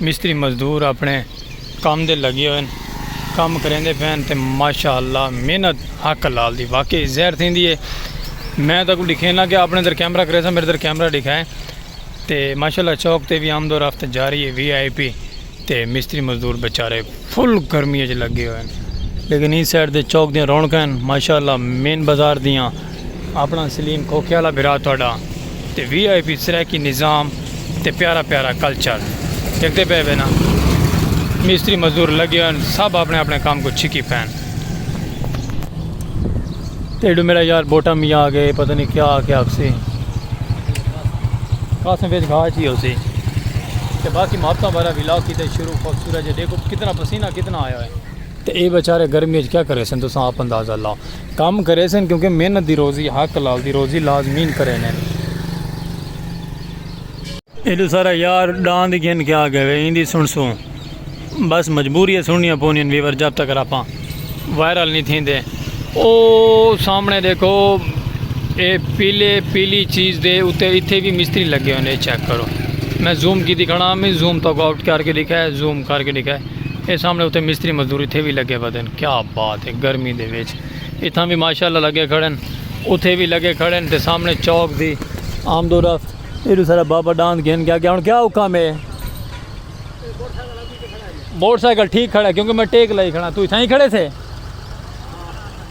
مستری مزدور اپنڑے کم دے لگے ہوئن کم کریندے پین تے ماشاء اللہ محنت حق لال دی واقعی زہر تھیندی ہے میں تاکو ڈکھینا کہ اپنے در کیمرہ کریسا میرے در کیمرہ ڈکھائے تے ماشاء اللہ چوک تے بھی آمد و رفت جاری ہے وی آئی پی تے مستری مزدور بچارے فل گرمی اچ لگے ہوئے لیکن این سائڈ دے چوک دیاں رونقیں ماشاء اللہ مین بازار دیاں اپنا سلیم کھوکھے آلا بھرا تہاڈا تے وی آئی پی سرائیکی نظام تے پیارا پیارا کلچر ڈیکھدے پئے وے نا مستری مزدور لگے ہوئے ہن سب اپنے اپنے کم کوں چھکی پئن تے ایڈو میڈا یار بوٹا میاں آگے پتہ نہیں کیا آکھے آکھسی قاسم وچ گھا چی ہوسی تے باقی محبتاں بھرا ولاگ کیتے شروع خوبصورت جے ڈیکھو کتنا پسینہ کتنا آیا ہوئے تے اے بیچارے گرمی اچ کیا کریسن تساں آپ اندازہ لاؤ۔ کم کریسن کیونکہ محنت دی روزی حق حلال دی روزی لازمین کریںن۔ ایڈو سارا یار ڈان دی گھن کے آ گئے وے ایندی سنسوں بس مجبوری اے سننیاں پونین ویور جب تک راپاں وائرل نی تھیندے او سامنے دیکھو اے پیلے پیلی چیز دے اتے اتھے وی مستری لگے ہوئے نے اے چیک کرو میں زوم کیتی کھڑا میں زوم تاکو آؤٹ کر کے دکھائے زوم کر کے دکھائے۔ اے سامنے اتے مستری مزدور اتھے وی لگے پدن کیا بات ہے گرمی دے وچ اتھاں وی ماشاءاللہ لگے کھڑن اتھے وی لگے کھڑن تے سامنے چوک دی آمد و رفت ایڈو سارا بابا ڈاند گھن کے آگیا ہن کیا حکم ہے موٹر سائیکل ٹھیک کھڑا ہے کیونکہ میں ٹیک لائی کھڑا تو اتھاں ہی کھڑے تھے۔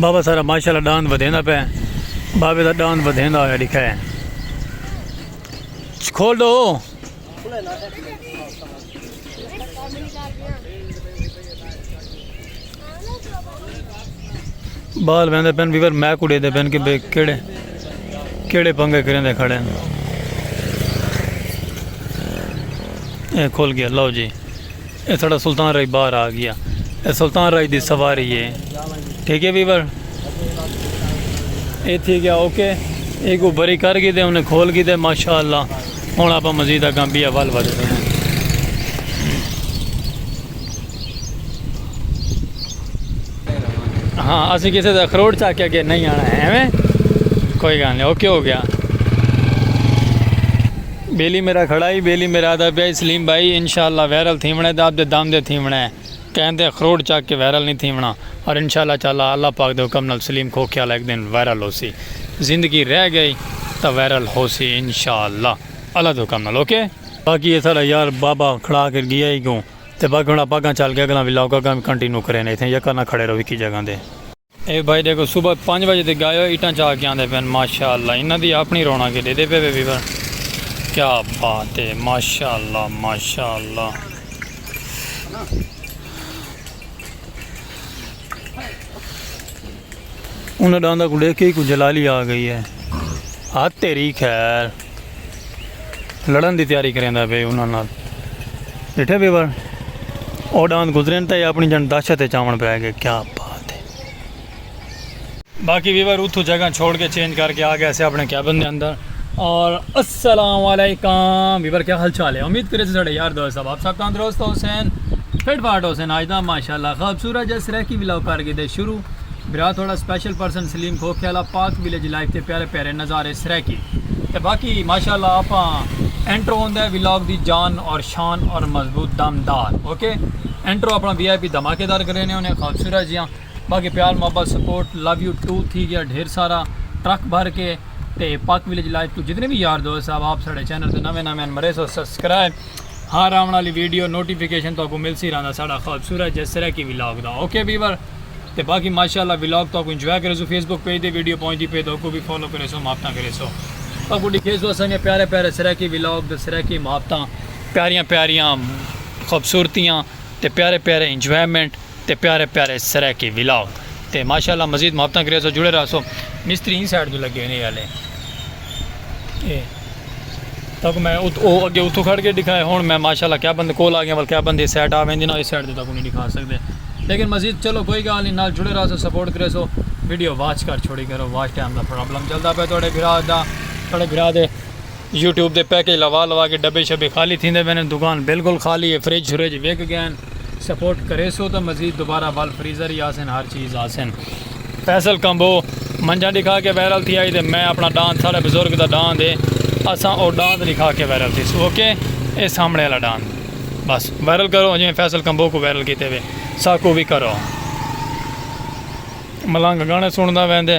بابا سارا ماشاءاللہ ڈاند ودھیندا پئے بابے دا ڈاند ودھیندا ہویا ڈکھا ہے کھول دو بال ویندے پین ویور میک اڑے دے پین کہ بے کیڑے کیڑے پنگے کریں دے کھڑے ہیں اے کھول گیا لو جی اے ساڑا سلطان رائی باہر آ گیا اے سلطان رائی دی سواری ہے ٹھیک ہے ویور اے تھی گیا اوکے اے کو بری کر گی دے انہیں کھول گی دے ماشاءاللہ ہن اپا مزید اگاں بھی اول ودے دے ہیں ہاں اسی کسی دے اخروٹ چاہ کے اگے نہیں آنا ہے کوئی گال نہیں اوکے ہو گیا بیلی میرا کھڑا ہی بیلی میرا آدھا پیا ہی سلیم بھائی انشاء اللہ وائرل تھیونڑا ہے تے آپدے دم دے تھیونڑا ہے کہیں دے اخروٹ چک کے وائرل نی تھیونڑا اور انشاء اللہ تعالی اللہ پاک دے حکم نال سلیم کھوکھیالہ ہک دن وائرل ہوسی زندگی رہ گئی تاں وائرل ہوسی انشاء اللہ اللہ دے حکم نال اوکے۔ باقی اے ساڈا یار بابا کھڑا کے گیا ہی کوں تے باقی ہن اپاں اگاں چل کے اگلا ولاگ اگاں وی کنٹینیو کرین ایتھے یکا نہ کھڑے رہو ہکی جگہ تے۔ اے بھائی ڈیکھو صبح پنج بجے دے گائے ہوئے ایٹاں چا کے آندے پین ماشاءاللہ انہاں دی اپنی رونا کے ڈیدے پے بے بھر کیا بات ہے ماشاءاللہ ماشاءاللہ انہاں ڈاندہ کو ڈیکھ کے ہی کو جلالی آ گئی ہے ہاتھ تیری خیر لڑن دی تیاری کریندا پے انہاں نال ڈٹھے بھی ور او ڈاند گزرین تے اپنی جن دہشت تے چاون پے گئے کیا بات ہے باقی بھی ور اتھو جگہ چھوڑ کے چینج کر کے آ گئے سے اپنے کیبن دے اندر اور السلام علیکم بھی ور کیا حال چال ہے امید کرے سے ساڈے یار دوست صاحب آپ سب تندرست حسین فٹ فاٹ حسین آج دا ماشاءاللہ خوبصورت جس رہ کی ولاگ کر کے دے شروع برا تھوڑا سپیشل پرسن سلیم کھوکھے آلا پاک ویلیج لائف تے پیارے پیارے نظارے سرائیکی تے باقی ماشاءاللہ آپاں انٹرو ہوندے ولاگ دی جان اور شان اور مضبوط دم دار اوکے انٹرو اپنا وی آئی پی دھماکے دار کرینے ہونے خوبصورت جیاں باقی پیار محبت سپورٹ لو یو ٹو تھی گیا ڈھیر سارا ٹرک بھر کے تے پاک ویلیج لائف تو جتنے بھی یار دوست صاحب آپ ساڑے چینل تے نویں نویں مرے سو سبسکرائب ہر آون والی ویڈیو نوٹیفیکیشن تو کو ملسی رہندا ساڑا خوبصورت جیسے سرائیکی ولاگ دا اوکے ویور تے باقی ماشاءاللہ ولاگ تہاکوں انجوائے کریسو فیس بک پیج تے ویڈیو پہنچدی پئی تے اوکوں وی فالو کریسو محبتاں کریسو اگوں ڈکھیسو اساں دیاں پیارے پیارے سرائیکی ولاگ تے سرائیکی محبتاں پیاریاں پیاریاں خوبصورتیاں تے پیارے پیارے انجوائمنٹ تے پیارے پیارے سرائیکی ولاگ تے ماشاءاللہ مزید محبتاں کریسو جڑے رہسو مستری ایں سائیڈ توں لگے نے اے آلے۔ اے تک میں او اگے اتھوں کھڑ کے دکھایا ہن میں ماشاءاللہ کیا بندے کول آ گیا ول کیا بندے سیٹ آ ویندے نا اس سائیڈ تے تاکوں نہیں دکھا سکدے لیکن مزید چلو کوئی گال نہیں نال جڑے رہسو سپورٹ کرے سو ویڈیو واچ کر چھوڑی کرو واچ ٹائم دا پرابلم چلدا پے تہاڈے بھرا دا تہاڈے بھرا دے یوٹیوب دے پیکج لوا لوا کے ڈبے شبے خالی تھیندے پے نے دکان بالکل خالی ہے فریج شریج وک گئے سپورٹ کریسو تاں مزید دوبارہ ول فریزر ہی آسن ہر چیز آسن۔ فیصل کمبو منجھاں ڈکھا کے وائرل تھی آئی تے میں اپنا ڈاند ساڑے بزرگ دا ڈاند ہے اساں او ڈاند ڈکھا کے وائرل تھیسوں اوکے اے سامنے آلا ڈاند بس وائرل کرو جویں فیصل کمبو کوں وائرل کیتے وے ساکوں وی کرو۔ ملنگ گانے سنڑدا ویندے۔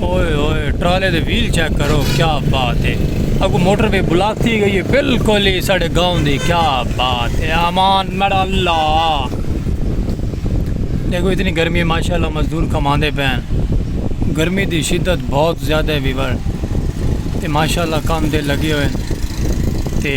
اوئے اوئے ٹرالے دے ویل چیک کرو کیا بات ہے اگو موٹر وے بلاک تھی گئی ہے بالکل ہی ساڑے گاؤں دی کیا بات ہے امان میرا اللہ دیکھو اتنی گرمی ہے ماشاءاللہ مزدور کماندے پین گرمی دی شدت بہت زیادہ ہے ویور تے ماشاءاللہ کام دے لگے ہوئے تے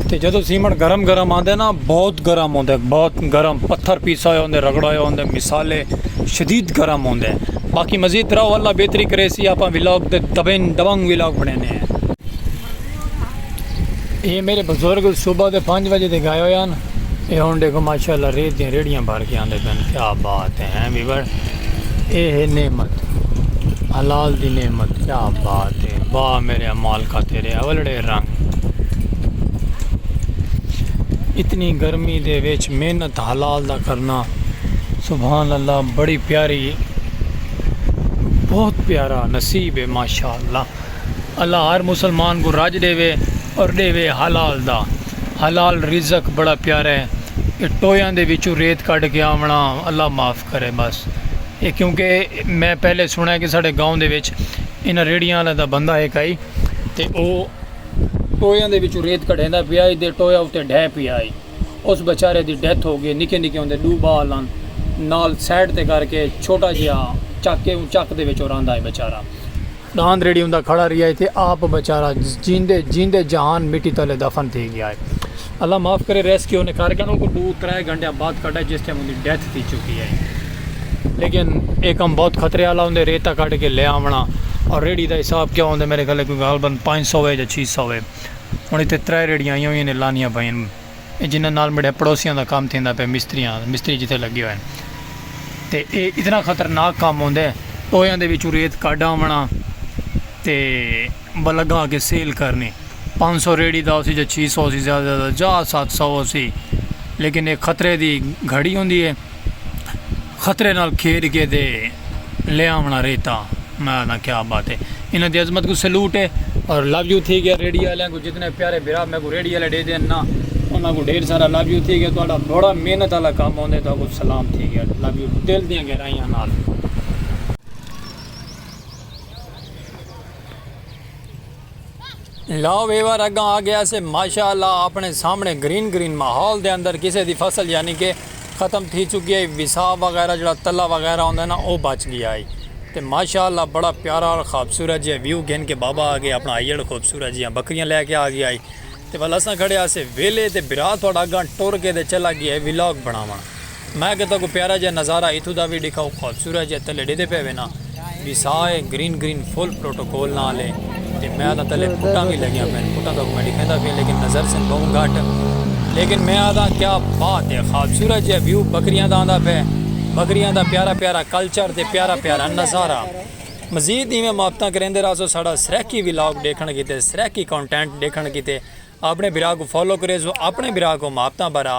تے جدوں سیمنٹ گرم گرم آندے نا بہت گرم ہوندے بہت گرم پتھر پیسا ہویا ہوندے رگڑا ہویا ہوندے مثالے شدید گرم ہوندے باقی مزید ترا اللہ بہتری کرے سی آپا ولاگ دے دبن دبنگ ولاگ بنے نے ہیں اے میرے بزرگ صبح دے پانچ بجے دے گائے ہویا نا اے ہون دیکھو ماشاءاللہ ریت دیں ریڑیاں بھر کے آندے پہن کیا بات ہیں ہیں بھی بڑھ اے ہے نعمت حلال دی نعمت کیا بات ہے واہ میرے امال کا تیرے اولڑے رنگ اتنی گرمی دے ویچ محنت حلال دا کرنا سبحان اللہ بڑی پیاری ہے بہت پیارا نصیب ہے ماشاء اللہ اللہ ہر مسلمان کو راج دے وے اور دے وے حلال دا حلال رزق بڑا پیارا ہے یہ ٹویاں دے وچوں ریت کٹ کے آونا اللہ معاف کرے بس اے کیونکہ میں پہلے سنڑے کہ ساڑے گاؤں دے وچ انہاں ریڑیاں والا دا بندہ ہک ہئی تے او ٹویاں دے وچوں ریت کڈھیندا پیا ہئی تے ٹویا اتے ڈھے پیا ہئی اس بیچارے دی ڈیتھ ہو گئی نکے نکے ہوندے ڈو بال ہن نال سائڈ تے کر کے چھوٹا جیا چک کے اوں چک دے وچوں رہندا ہئی بیچارہ ݙاند ریڑھی ہوندا کھڑا رہیا ہے تے آپ بیچارہ جیندے جیندے جہان مٹی تلے دفن تھی گیا ہے۔ اللہ معاف کرے ریسکیو نے کر کے انہاں کوں ݙو ترے گھنٹیاں بعد کڈھا جس ٹائم اوندی ڈیتھ تھی چکی ہے۔ لیکن اے کم بہت خطرے آلا ہوندے ریتہ کڈھ کے لے آوݨا اور ریڑھی دا حساب کیا ہوندے میرے خیال کوئی غالبا پنج سو ہے یا چھی سو ہے۔ ہݨ ایتھے ترے ریڑھیاں آئیاں ہوئیاں نے لانیاں پئین۔ اے جنہاں نال میڈے پڑوسیاں دا کم تھیندا پئے مستریاں دا مستری جتھے لگے ہوئے ہن تے اے اتنا خطرناک کم ہوندے ٹویاں دے وچوں ریت کڈھ آونڑاں تے بلگاں اگے سیل کرنی پانچ سو ریڑی دا ہوسی جاں چھی سو ہوسی زیادہ زیادہ جاں ست سو ہوسی لیکن اے خطرے دی گھڑی ہوندی اے۔ خطرے نال کھیڈ کے تے لے آونڑاں ریتہ میں آدھاں کیا بات ہے انہاں دی عظمت کوں سیلوٹ ہے۔ اور لو یو تھی گیا ریڈی آلیاں کوں جتنے پیارے بھرا میکوں ریڈی آلے ڈے دین نا انہاں کوں ڈھیر سارا لو یو تھی گیا تہاڈا بڑا محنت آلا کم ہوندے تہاکوں سلام تھی گیا لو یو دل دیاں گہرائیاں نال۔ لا ویور اگاں آکھے اسے ماشاء اللہ آپنڑے سامنڑے گرین گرین ماحول دے اندر کسے دی فصل یعنی کہ ختم تھی چکی ہئی وساء وغیرہ جیڑھا تلہ وغیرہ ہوندا ہے نا او بچ گیا ہئی تے ماشاء اللہ بڑا پیارا اور خوبصورت جیہا ویو گھن کے بابا آگے اپنڑا آئیڑ خوبصورت جیہاں بکریاں لے کے آگیا ہئی تے ول اساں کھڑے ہاسے ویلے تے بھرا تہاڈا اگاں ٹر کے تے چلا گیا ہئی ولاگ بنڑاونڑ۔ میں اگے تہاکوں پیارا جیہا نظارہ ایتھوں دا وی ڈکھاؤ خوبصورت جیہا تلے ڈیدے پئے وینا وی سا اے گرین گرین فل پروٹوکول نال اے تے میں آدھاں تلے پھٹاں وی لگیاں پین پھٹاں تہاکوں میں ڈکھیندا پیاں لیکن نظر سن بہوں گھٹ لیکن میں آدھاں کیا بات اے خوبصورت جیہا ویو بکریاں دا آندا پئے بکریاں دا پیارا پیارا کلچر تے پیارا پیارا نظارہ مزید ایویں محبتاں کریندے راہسو ساڈا سرائیکی ولاگ ڈیکھنڑ کیتے سرائیکی کونٹینٹ ڈیکھنڑ کیتے۔ آپݨے بھرا کوں فالو کریسو آپݨے بھرا کوں محبتاں بھرا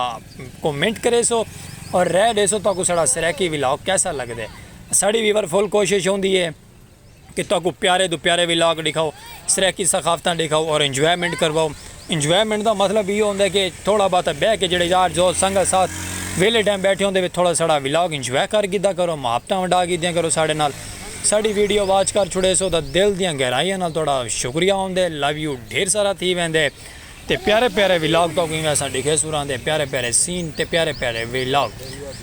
کو منٹ کریسو اور رائے ڈیسو تہاکوں ساڑا سرائیکی ولاگ کیسا لگدے ساڑی ویور فل کوشش ہوندی ہے کہ تہاکوں پیارے توں پیارے ولاگ ڈکھاؤ سرائیکی ثقافتاں ڈکھاؤ اور انجوائمنٹ کرواؤ انجوائمنٹ دا مطلب ایہو ہوندے کہ تھوڑا بہت بیٹھ کے جڑے یار دوست سنگت ساتھ ویلے ٹائم بیٹھے ہوندے تھوڑا ساڑا ولاگ انجوائے کر گھدا کرو محبتاں ونڈا گھدیاں کرو ساڑے نال ساڈی ویڈیو واچ کر چھڑیسو تاں دل دیاں گہرائیاں نال تہاڈا شکریہ ہوندے لو یو ڈھیر سارا تھی ویندے تے پیارے پیارے ولاگ تہاکوں ایویں اساں ڈکھے سوراں دے پیارے پیارے سین تے پیارے پیارے ولاگ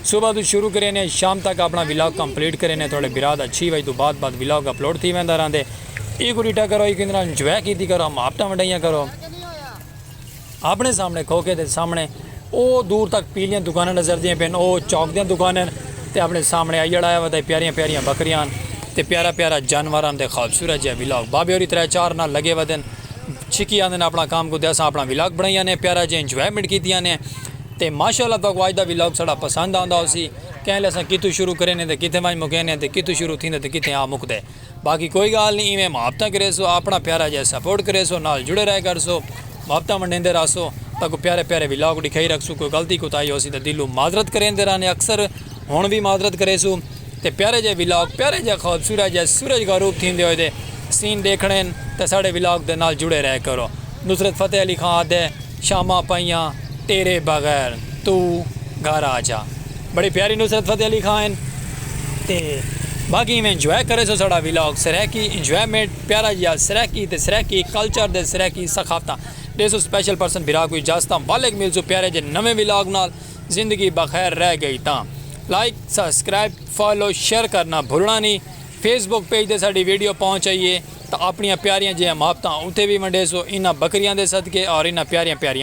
صبح تو شروع کرینے شام تک اپنا ولاگ کمپلیٹ کرینے تہاڈے برا دا چھی وج تو بعد بعد ولاگ اپلوڈ تھی ویندا رہندے ایکوں ڈٹا کرو ایکوں اندرا انجوائے کیتی کرو ماپٹاں ونڈائیاں کرو اپنڑے سامنڑے کھوکھے دے سامنڑے او دور تک پیلیاں دکاناں نظر دیاں پین او چوک دیاں دکاناں ہن تے اپنڑے سامنڑے آئی اڑایا ودا پیاریاں پیاریاں بکریاں ہن تے پیارا پیارا جانور ہن تے خوبصورت جیہا ولاگ بابے ہوری ترے چار نال لگے ودے ہن چھکی آندے ہن اپنڑا کام کوں تے اساں اپنڑا ولاگ بنڑائی آنے آں پیارا جیہا انجوائمنٹ کیتی آنے آں تے ماشاءاللہ تہاکوں اج دا ولاگ ساڈا پسند آندا ہوسی کینلے اساں کتھوں شروع کرینے تے کتھے ونج مکینے تے کتھوں شروع تھیندے تے کتھے آ مکدے۔ باقی کوئی گالھ نی ایویں محبتاں کریسو آپنڑا پیارا جئے سپورٹ کریسو نال جڑے رہے کرسو محبتاں ونڈیندے راہسو تاکوں پیارے پیارے ولاگ ڈکھائی رکھسوں کوئی غلطی کوتاہی ہوسی تاں دلوں معذرت کریندے رہنے اکثر ہن وی معذرت کریسو تے پیارے جئے ولاگ پیارے جئے خوبصورت جئے سورج غروب تھیندے ہوئے دے سین ڈیکھنڑے ہن تاں ساڈے ولاگ دے نال جڑے رہے کرو نصرت فتح علی خان آدھے۔ شاماں پئیاں تیرے بغیر توں گھر آجا بڑی پیاری نصرت فتح علی خاں ہن تے باقی ایویں انجوائے کرے سو ساڑا ولاگ سرائیکی انجوائمنٹ پیارا جیا سرائیکی تے سرائیکی کلچر دے Saraiki ثقافتاں day so special person بھرا کو اجازتاں ولگ مل سو پیارے جے نویں ولاگ نال زندگی بخیر رہ گئی تاں لائک سبسکرائب فالو شیئر کرنا بھلنا نی فیس بک پیج تے ساڑی ویڈیو پہنچ ائیے تاں آپݨیاں پیاریاں جیہاں محبتاں اتے وی ونڈیسو انہاں بکریاں دے صدقے اور انہاں پیاریاں پیاریاں